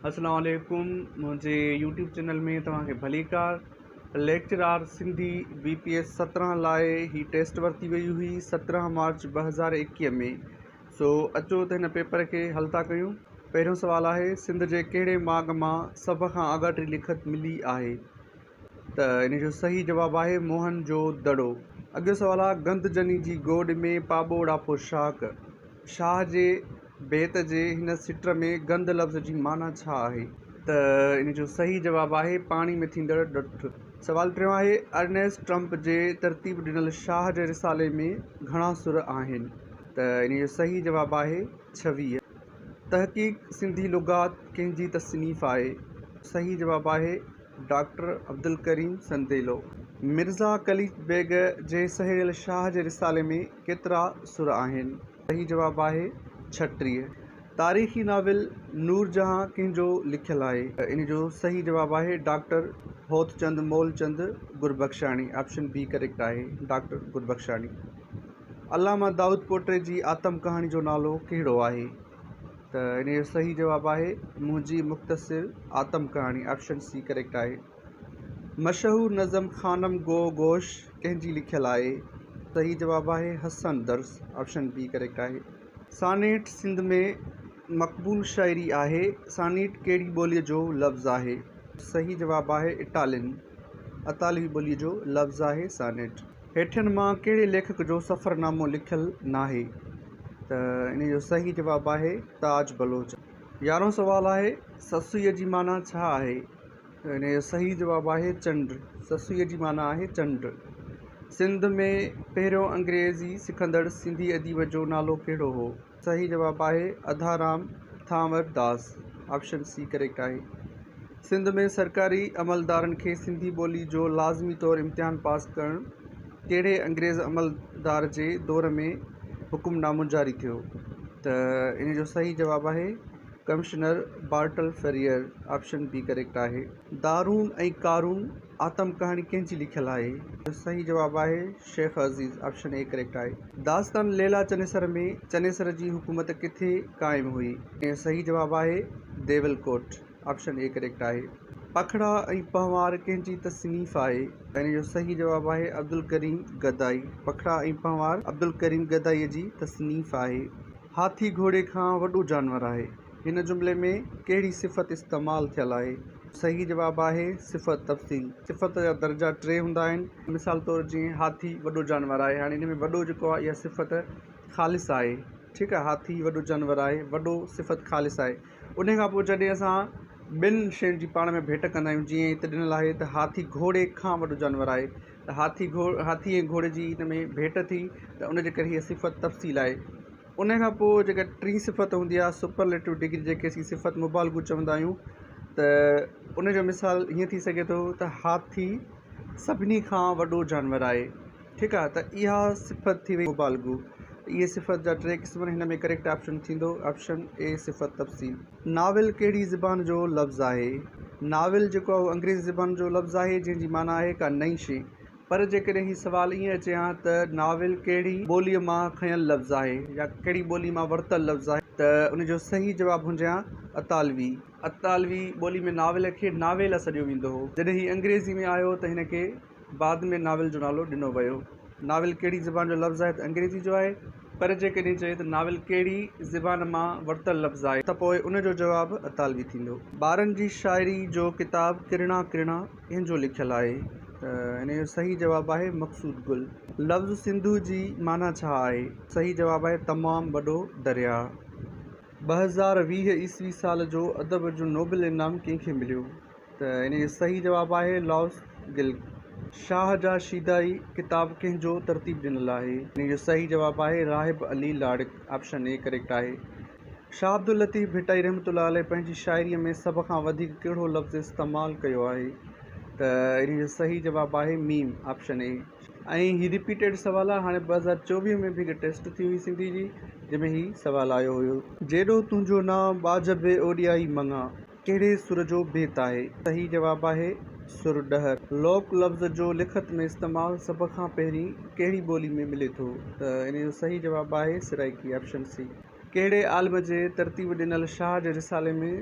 اسلام عليڪم منهنجي يوٽيوب چينل ۾ توهان کي ڀليڪار lecturer Sindhi B P S سترهن لاء هي ٽيسٽ ورتي وئي هئي سترهن مارچ ٻه هزار ايڪيهه ۾ سو اچو ته هن پيپر کي حل ٿا ڪيون پهريون سوال آهي سنڌ جي ڪهڙي ماڳ مان سڀ کان آڳاٽي لکت ملي آهي ته ان جو صحيح جواب آهي موهن جو دڙو. اڳيون سوال آهي گند جني جي گوڏ ۾ پاٻوڙا پوشاڪ. شاهه جي بيت جي هن سٽر ۾ گند لفظ جي معنيٰ ڇا آهي؟ ته ان جو صحيح جواب آهي پاڻي ۾ ٿيندڙ ڏٺ. سوال ٽيون آهي ارنيسٽ ٽرمپ جي ترتيب ڏنل شاهه جي رسالي ۾ گهڻا سر آهن؟ ته ان جو صحيح جواب آهي ڇويهه. تحقيق سنڌي لغات ڪنهن جي تصنيف آهي؟ صحيح جواب آهي. ڊاڪٽر عبدالڪريم سنديلو، مرزا قليچ بيگ جي سهيڙيل شاهه جي رسالي ۾ ڪيترا سر آهن؟ صحيح جواب آهي ڇٽيهه. تاريخي ناول نور جهان ڪنهن جو لکيل آهي؟ ان جو صحيح جواب آهي doctor Hotchand Moolchand Gurbuxani, option B correct آهي، ڊاڪٽر گربخشاڻي. علامه دائود پوٽي جي آتم ڪهاڻي جو نالو ڪهڙو آهي؟ ته ان جو صحيح جواب آهي منهنجي مختصر آتم ڪهاڻي آپشن سي ڪريڪٽ آهي مشهور نظم خانم گو گوش ڪنهن جي لکيل آهي صحيح جواب آهي Hassan Dars option B correct آهي سانيٽ سنڌ ۾ مقبول شاعري آهي سانيٽ ڪهڙي ٻولي جو لفظ آهي صحيح جواب آهي اٽالين اطالوي ٻولي جو لفظ آهي سانيٽ هيٺين مان ڪهڙي ليکڪ جو سفرنامو لکيل ناهي؟ ته انهي جو صحيح جواب آهي تاج بلوچ. يارهون سوال آهي سسئي جي معنيٰ ڇا آهي؟ ته انهي جو صحيح جواب آهي چنڊ. سسئي جي معنيٰ آهي چنڊ. سنڌ ۾ پهريون انگريزي سکندڙ سنڌي اديب جو نالو ڪهڙو هو؟ صحيح جواب آهي Udharam Thanwar Das option C correct آهي سنڌ ۾ سرڪاري عملدارن کي سنڌي ٻولي جو لازمي طور امتحان پاس ڪرڻ ڪهڙي انگريز عملدار جي دور ۾ حڪم نامو جاري ٿيو ته ان جو صحيح جواب آهي commissioner Bartle Frere option B correct آهي دارون ۽ ڪارون آتم ڪهاڻي ڪنهن جي لکيل آهي؟ جو صحيح جواب آهي Shaikh Aziz option A correct آهي. داستان ليلا چنيسر ۾ چنيسر جي حڪومت ڪٿي قائم هئي؟ جو صحيح جواب آهي Deval Kot option A correct آهي. پکڙا ۽ پنهوار ڪنهن جي تصنيف آهي؟ جو صحيح جواب آهي عبدالڪريم گدائي پکڙا ۽ پنهوار عبدالڪريم گدائي جي تصنيف آهي. هاٿي گهوڙي کان وڏو جانور آهي. هن جملي ۾ ڪهڙي صفت استعمال ٿيل آهي؟ صحيح جواب آهي، صفت تفصيل. صفت جا درجا ٽي هوندا آهن. مثال طور جيئن هاٿي وڏو جانور آهي، هاڻي هن ۾ وڏو جيڪو آهي اها صفت خالص آهي، ٺيڪ آهي، هاٿي وڏو جانور آهي، وڏو صفت خالص آهي. انهيء کان پوء جڏهن اسان ٻن شين جي پاڻ ۾ ڀيٽ ڪندا آهيون، جيئن هتي ڏنل آهي ته هاٿي گهوڙي کان وڏو جانور آهي، ته هاٿي، هاٿي ۽ گهوڙي جي ان ۾ ڀيٽ ٿي ته ان جي ڪري هيء صفت تفصيل آهي. ان کان پوء جيڪا ٽي صفت هوندي آهي Superlative Degree جنهن کي اسين صفت مبالغو چوندا آهيون ته ان جو مثال هيئن ٿي سگهي ٿو ته هاٿي سڀني کان وڏو جانور آهي ٺيڪ آهي ته اها صفت ٿي وئي مبالغو اهي صفت جا ٽي قسم آهن هن ۾ ڪريڪٽ آپشن ٿيندو آپشن اي صفت تفصيل ناول ڪهڙي زبان جو لفظ آهي ناول جيڪو آهي اهو انگريزي زبان جو لفظ آهي جنهن جي معنيٰ آهي ڪا نئين شي پر جيڪڏهن هي سوال ائين اچي ها ته ناول ڪهڙي ٻوليء مان کنيل لفظ آهي يا ڪهڙي ٻوليء مان ورتل لفظ آهي ته ان جو صحيح جواب هجي ها اطالوي. اطالوي ٻوليء ۾ ناول کي ناويلا سڏيو ويندو هو. جڏهن هي انگريزيء ۾ آيو ته هن کي بعد ۾ ناول جو نالو ڏنو ويو. ناول ڪهڙي زبان جو لفظ آهي ته انگريزيء جو آهي. پر جيڪڏهن چئي ته ناول ڪهڙي زبان مان ورتل لفظ آهي ته پوء ان جو جواب اطالوي ٿيندو. ٻارن جي شاعريء جو ڪتاب ڪرڻا ڪرڻا ڪنهن جو لکيل آهي؟ ته هن جو صحيح جواب آهي مقصود گل. لفظ سنڌو جي معنيٰ ڇا آهي؟ صحيح جواب آهي تمام وڏو درياء. ٻه هزار ويهه عيسوي سال جو ادب جو نوبل انعام ڪنهن کي مليو؟ ته هن جو صحيح جواب آهي لائوس گل. شاهه جا شيدائي ڪتاب ڪنهن جو ترتيب ڏنل آهي؟ هن جو صحيح جواب آهي Rahib Ali Larak. Option A correct آهي. شاهه عبداللطيف ڀٽائي رحمة الله عليه پنهنجي شاعريء ۾ سڀ کان وڌيڪ ڪهڙو لفظ استعمال ڪيو آهي ته ان جو صحيح جواب آهي ميم آپشن اي ۽ هي رپيٽيڊ سوال آهي هاڻي ٻه هزار چوويهه ۾ به هڪ ٽيسٽ ٿي هئي سنڌي جي جنهن ۾ هي سوال آيو هيو. جيڏو تنهنجو نانء ٻاجهه بي اوڏيائي مڱان. ڪهڙي سر جو بيت آهي؟ صحيح جواب آهي، سر ڏهر. لوڪ لفظ جو لکت ۾ استعمال سڀ کان پهرين ڪهڙي ٻولي ۾ ملي ٿو؟ ته ان جو صحيح جواب آهي، سرائيڪي، آپشن سي. ڪهڙي عالم جي ترتيب ڏنل شاهه جي رسالي ۾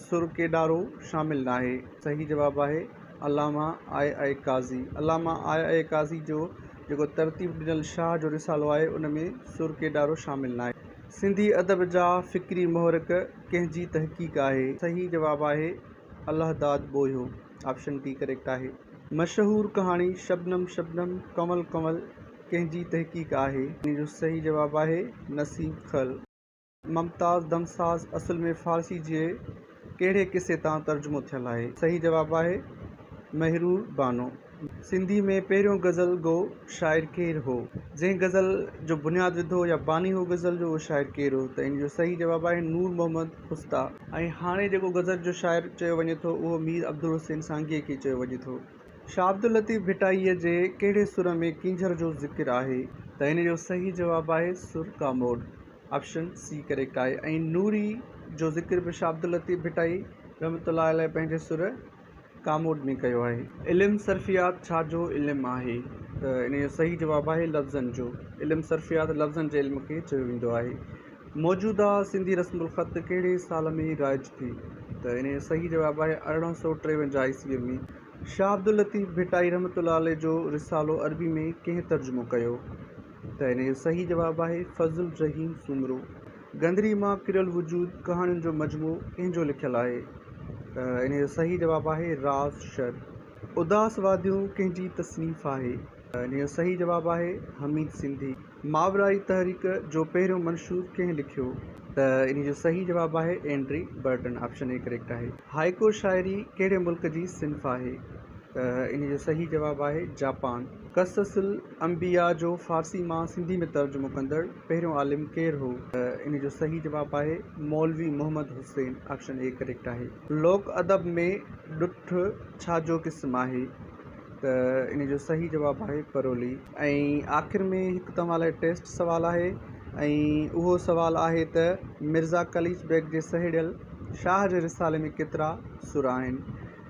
سر ڪيڏارو شامل ناهي؟ صحيح جواب آهي، علامه آء اي قاضي. علامه آء اي قاضي جو جيڪو ترتيب ڏنل شاهه جو رسالو آهي، ان ۾ سر ڪيڏارو شامل ناهي. سنڌي ادب جا فڪري محرڪ. ڪنهن جي تحقيق آهي؟ صحيح جواب آهي الله داد ٻوهيو آپشن ٽي ڪريڪٽ آهي. مشهور ڪهاڻي شبنم شبنم ڪنول ڪنول ڪنهن جي تحقيق آهي؟ ان جو صحيح جواب آهي نسيم خل. ممتاز دمساز اصل ۾ فارسي جي ڪهڙي قصي تان ترجمو ٿيل آهي؟ صحيح جواب آهي مهرور بانو. سنڌي ۾ پهريون غزل گو شاعر ڪير هو؟ جنهن غزل جو بنياد وڌو يا باني هو غزل جو اهو شاعر ڪير هو؟ ته ان جو صحيح جواب آهي نور محمد خستا. ۽ هاڻي جيڪو غزل جو شاعر چيو وڃي ٿو اهو مير عبدالحسين سانگيء کي چيو وڃي ٿو. شاهه عبداللطيف ڀٽائيء جي ڪهڙي سر ۾ ڪينجهر جو ذڪر آهي؟ ته ان جو صحيح جواب آهي سر ڪا موڊ، آپشن سي ڪريڪٽ آهي ۽ نوري جو ذڪر به شاهه عبداللطيف ڀٽائي رحمة الله عليه پنهنجي سر، ڪامورد ۾ ڪيو آهي. علم صرفيات ڇا جو علم آهي؟ ته ان جو صحيح جواب آهي لفظن جو علم صرفيات لفظن جي علم کي چيو ويندو آهي. موجوده سنڌي رسم الخط ڪهڙي سال ۾ رائج ٿي؟ ته ان جو صحيح جواب آهي ارڙهن سؤ ٽيونجاهه عيسويء ۾. شاهه عبداللطيف ڀٽائي رحمة الله عليه جو رسالو عربي ۾ ڪنهن ترجمو ڪيو؟ ته ان جو صحيح جواب آهي فضل الرحيم سومرو. گندري مان ڪريل وجود ڪهاڻين جو مجموعو ڪنهن جو لکيل آهي؟ ته انهيء جو صحيح جواب آهي راز شر. اداس واديون ڪنهن جي تصنيف آهي؟ ته انهيء جو صحيح جواب آهي حميد سنڌي. ماورائي تحريڪ جو پهريون منشور ڪنهن لکيو؟ ته انهيء جو صحيح جواب آهي Andre Breton. Option A correct آهي. هائيڪو شاعري ڪهڙي ملڪ جي صنف آهي؟ ته انهيء جو صحيح جواب آهي جاپان. قصص انبياء جو فارسي مان سنڌي ۾ ترجمو ڪندڙ پهريون عالم ڪير هو؟ ان جو صحيح جواب آهي Maulvi Muhammad Hussain option A correct آهي. لوڪ ادب ۾ ڏٺ ڇا جو قسم آهي؟ ته ان جو صحيح جواب آهي پرولي. ۽ آخر ۾ هڪ توهان لاء ٽيسٽ سوال آهي ۽ اهو سوال آهي ته مرزا قليچ بيگ جي سهيڙيل شاهه جي رسالي ۾ ڪيترا سر آهن؟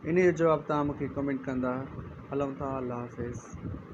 ان جو جواب توهان مونکي ڪمينٽ ڪندا هلون ٿا الله حافظ.